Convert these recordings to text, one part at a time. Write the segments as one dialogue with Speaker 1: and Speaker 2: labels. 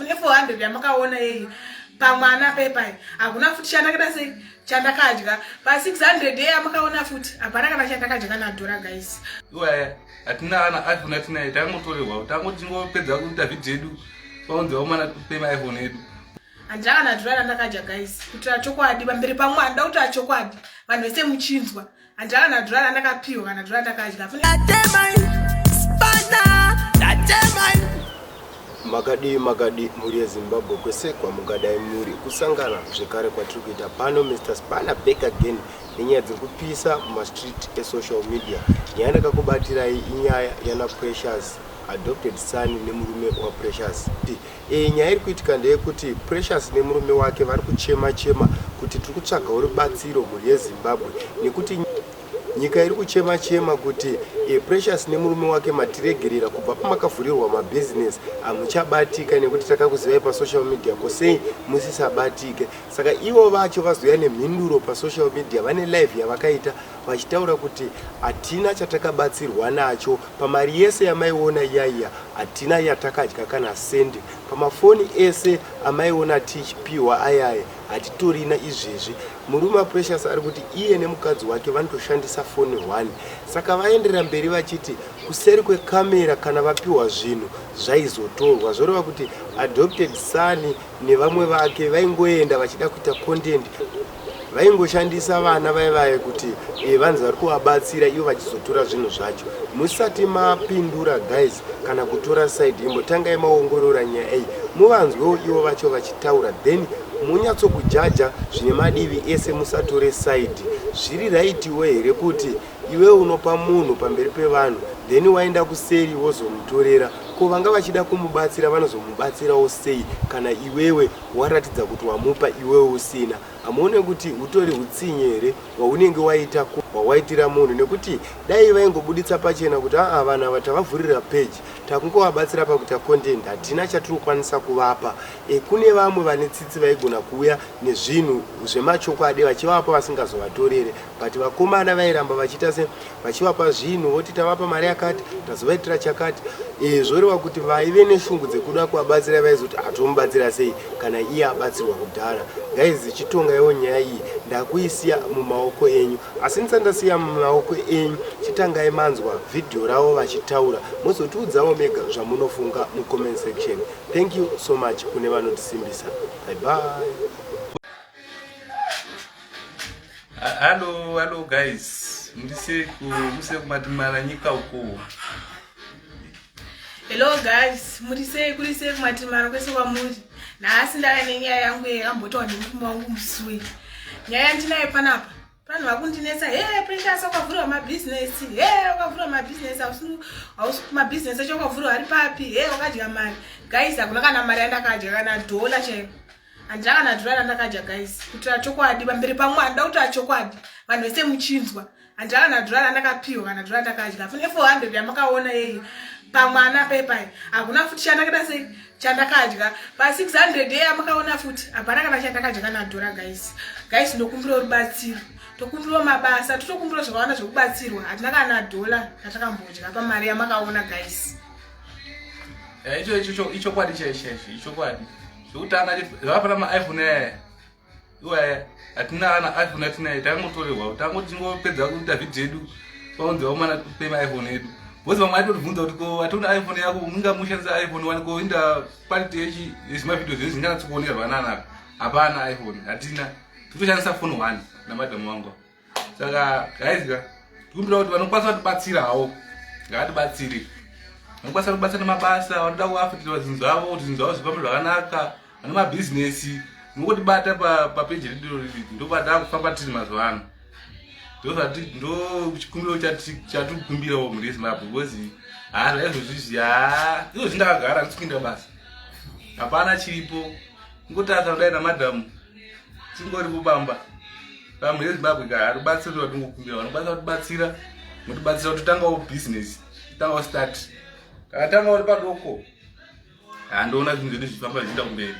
Speaker 1: ne 400 yamakaona yei pamwana pepai hakuna futi chandakada sei chandakadya pa 600 yei amakaona futi hapana kana chandakadya kana dhora guys iwaya
Speaker 2: hatina ana iphone atinaye tangotorerwa tango tingopedza kuita vhidhi yedu paunzi vaumana pema iphone yedu handina kana dhora
Speaker 1: randakadya guys kutira chokwadi pamberi pamwe handida kutira chokwadi vanhu vese muchinzwa Andala na drala ndakapihwa kana drala ndakadya. Atemai
Speaker 3: spana atemai. Makadii makadii mhuri yeZimbabwe kwese kwamungadai muri kusangana zvekare kwatiri kuita pano Mr Spana back again nenyaya dziri kupisa mumastreet esocial media. Nyaya ndakakubatirai inyaya yana Precious adopted son nemurume waPrecious. Ii. E, nyaya iri kuitika ndeyekuti Precious nemurume wake vari kuchema chema kuti tiri kutsvagawo rubatsiro mhuri yeZimbabwe nekuti nyika iri kuchema chema kuti e, Precious nemurume wake matiregerera kubva pamakavhurirwa mabhizinesi hamuchabatika nekuti takakuzivai pasocial media ko sei musisabatike saka ivo vacho vazouya nemhinduro pasocial media vane live yavakaita vachitaura kuti hatina chatakabatsirwa nacho pamari yese yamaiona iyaiya hatina yatakadya kana sendi pamafoni ese amaiona tichipiwa ayaya hatitorina izvezvi murume aprecious ari kuti iye nemukadzi wake vanotoshandisa foni one saka vaenderera mberi vachiti kuseri kwekamera kana vapiwa zvinhu zvaizotorwa zvoreva kuti adopted sani nevamwe vake vaingoenda vachida kuita content vaingoshandisa vana vaye vaye kuti eh, vanzi vari kuvabatsira ivo vachizotora zvinhu zvacho musati mapindura guys kana kutora side imbotangai maongorora nyaya iyi muvanzwewo ivo vacho vachitaura then munyatsokujaja zvine madivi ese musatore side zviri raitiwe here kuti iwe unopa munhu pamberi pevanhu then waenda kuseri wozomutorera ko vanga vachida kumubatsira vanozomubatsirawo sei kana iwewe waratidza kuti wamupa iwewe usina hamuone kuti hutori hutsinye here hwaunenge waita hwawaitira munhu nekuti dai vaingobuditsa pachena kuti aa vanhu ava tavavhurira peji takungovabatsira pakuita content hatina chatiri kukwanisa kuvapa e, kune vamwe vane tsitsi vaigona kuuya nezvinhu zvemachokwadi vachivapa vasingazovatorere but vakomana vairamba vachiita se vachivapa zvinhu voti tavapa mari yakati tazovaitira chakati e, zvoreva kuti vaive neshungu dzekuda kuvabatsira vaizoti hatomubatsira ah, sei kana iye abatsirwa kudhara guys chitonga iwo nyaya iyi ndakuisiya mumaoko enyu asi ndisandasiya mumaoko enyu chitangai manzwa vhidhiyo ravo vachitaura mozotiudzawo mega zvamunofunga mucomment section thank you so much kune vanotisimbisa bye bye
Speaker 2: Hello, hello guys. Mrise ku mrise kumatimara nyika uko.
Speaker 1: Hello guys, murise kurise kumatimara kwese kwamuri. Nhasi ndava nenyaya yangu yakambotawa nemurume wangu musui. Nyaya yandinayo panapa. Vanhu vakundinetsa, hey Precious wakavhura mabusiness, hey wakavhura mabusiness, hausi hausi mabusiness acho wakavhura ari papi, hey wakadya mari. Guys, hakuna kana mari yandakadya kana dollar chaiyo. handira kana dhora randakadya guys kutira chokwadi pamberi pamwe handida kutira chokwadi vanhu vese muchinzwa handira kana dhora randakapiwa kana dhora randakadya fune 400 yamakaona yeye pamwana pepai hakuna futi chandakada sei chandakadya pa 600 yeye amakaona futi hapana kana chandakadya kana dhora guys guys ndokumbira rubatsiro tokumbirwa mabasa totokumbirwa zvakawanda zvekubatsirwa hatina kana dhola yatakambodya pamari yamakaona guys eh,
Speaker 2: ichokwadi chaichaicho ichokwadi zvekutanga zvakafana maiphone aya iwaya hatina ana iphone atina ayi tangotorerwa tango tingopedza kuita vhidhio edu paunzi vaumana pe maiphone edu bcause vamwe aitotibvunza kuti ko ationa iphone yako unga mushandisa iphone wani ko inda quality yechi yezvimavhidhio zvedu zvinganatsokuonerwa nanaka hapana iphone hatina totoshandisa phone one namadhamu wangu saka guys ka tikumbira kuti vanokwanisa kutibatsira hawo ngaatibatsiri vanokwanisa kutibatsira nemabasa vanoda kuafitira zvinhu zvavo kuti zvinhu zvavo zvifambe zvakanaka vane mabhizinesi nokutibata papeji redu ndobata kufamba tiri mazuva ano ndozvati ndo chikumbiro chatikumbirawo mhuri yezimbabwe because haa zvaizvozvizvi haa izvozvi ndakagara ndisikuinda basa hapana chiripo ngotarisa kudai namadhamu tingoripo bamba pamwe yezimbabwe ka hatibatsira kuti vatingokumbira vanokwanisa kutibatsira motibatsira kuti tangawo business tangawo start kana tanga uri padoko handiona zvinhu zvedu zvifamba zvichiita kumberi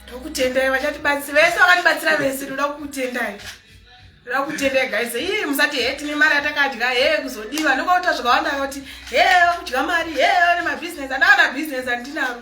Speaker 1: tokutendai vachatibatsira vese vakatibatsira vese toda kukutendai toda kukutendai gaise ii musati he tine mari yatakadya he kuzodiwa nokauta zvakawanda kuti he vakudya mari he vane mabhizinesi andavana bhizinesi andinaro